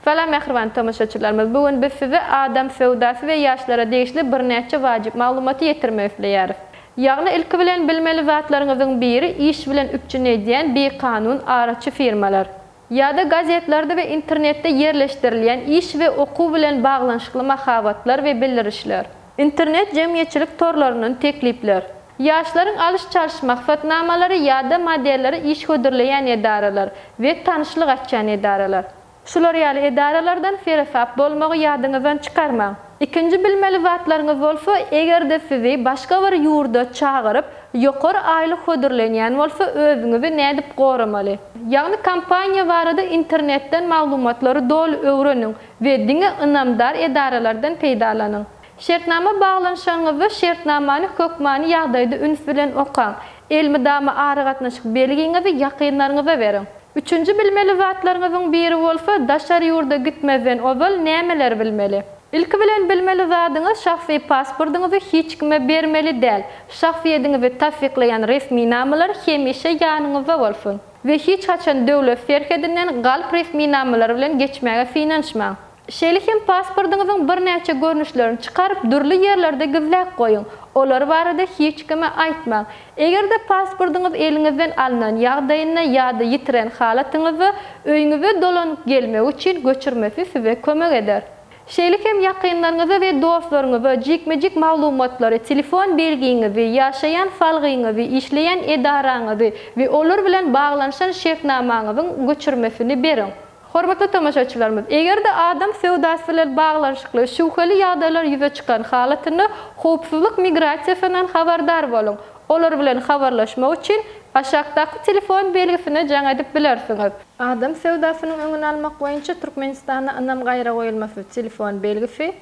Salam mähriban tomaşaçylarymyz bu gün biz size adam söwdasy we ýaşlara degişli birnäçe wajyp maglumaty ýetirmek isleýäris. Ýagny ilki bilen bilmeli zatlaryňyzyň biri iş bilen üpjün edýän bikanun araçy firmalar. Ýa-da gazetlerde we internetde ýerleşdirilýän iş we okuw bilen baglanyşykly mahabatlar we bildirişler. Internet jemgyýetçilik torlaryndan teklipler. Ýaşlaryň alyş-çalyş maksatnamalary ýa-da modelleri iş hödürleýän edaralar we tanyşlyk açýan edaralar. Şular ýaly edaralardan seresap bolmagy ýadyňyzdan çykarmaň. Ikinji bilmeli zatlaryňyz bolsa, eger-de sizi başga bir ýurda çagyryp, ýokary aýlyk hödürlenýän bolsa, özüňizi nädip goramaly? Ýagny kompaniýa barada internetden maglumatlary doly öwreniň we diňe ynamdar edaralardan peýdalanyň. Şertnama baglanyşanyňyzda şertnamany hökmany ýagdaýda üns bilen okaň. Elmydama aragatnaşyk belgiňizi ýakynlaryňyza beriň. Üçünji bilmeli zatlaryňyzyň biri bolsa, daşary ýurda gitmezden ozal nämeleri bilmeli? Ilki bilen bilmeli zadyňyz şahsy pasportyňyzy hiç kime bermeli däl. Şahsyýediňizi tassyklaýan resminamalar hemişe ýanyňyzda bolsun. We hiç haçan döwlet serhedinden galp resminamalary bilen geçmäge synanyşmaň. Şeýle hem pasportyňyzyň birnäçe görnüşlerini çykaryp dürli ýerlerde gizläp goýuň. Olar barada hiç kime aýtmaň. Eger-de pasportyňyz eliňizden alnan ýagdaýynda ýa-da ýitiren halatyňyzda öýüňize dolanyp gelmegi üçin göçürmesi size kömek eder. Şeýle hem ýakynlaryňyza we dostlaryňyza jikme-jik maglumatlary, telefon belgiňizi, ýaşaýan salgyňyzy, işleýän edaraňyzy we olar bilen baglanyşan şertnamaňyzyň göçürmesini beriň. Hormatly tomaşaçylarymyz, eger-de adam söwdasy bilen baglanyşykly şübheli ýagdaýlar ýüze çykan halatynda Howpsuzlyk migrasiýasyndan habardar boluň! Olar bilen habarlaşmak üçin aşakdaky telefon belgisine jaň edip bilersiňiz. Adam söwdasynyň öňüni almak boýunça Türkmenistanda ynam gaýragoýulmasy telefon belgisi,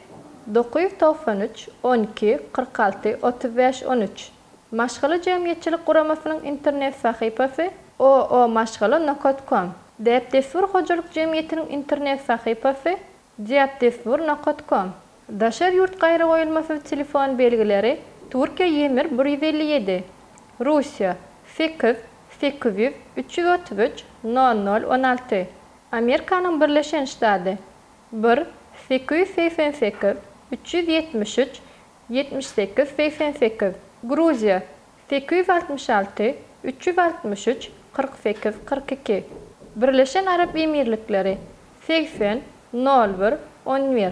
dokuz ýüz togsan üç, on iki, kyrk alty, otuz bäş, on üç. Maşgala jemgyýetçilik guramasynyň internet sahypasy, oomaşgala nokat kom. Däp-dessur hojalyk jemgyýetiniň internet sahypasy, deapdessur nokat kom. Daşary ýurt gaýragoýulmasyz telefon belgileri, Türkiýe Ýemir bir ýüz elli ýedi, Russiýa, sekiz, sekiz ýüz, üç ýüz otuz üç, nol nol, on alty, Amerikanyň Birleşen Ştady, bir, sekiz ýüz segsen sekiz, üç ýüz ýetmiş üç, Ýetmiş sekiz, segsen sekiz, Gruziýa, sekiz ýüz altmyş alty, üç ýüz altmyş üç, kyrk sekiz, kyrk iki, Birleşen Arap Emirlikleri, segsen, nol bir, on bir.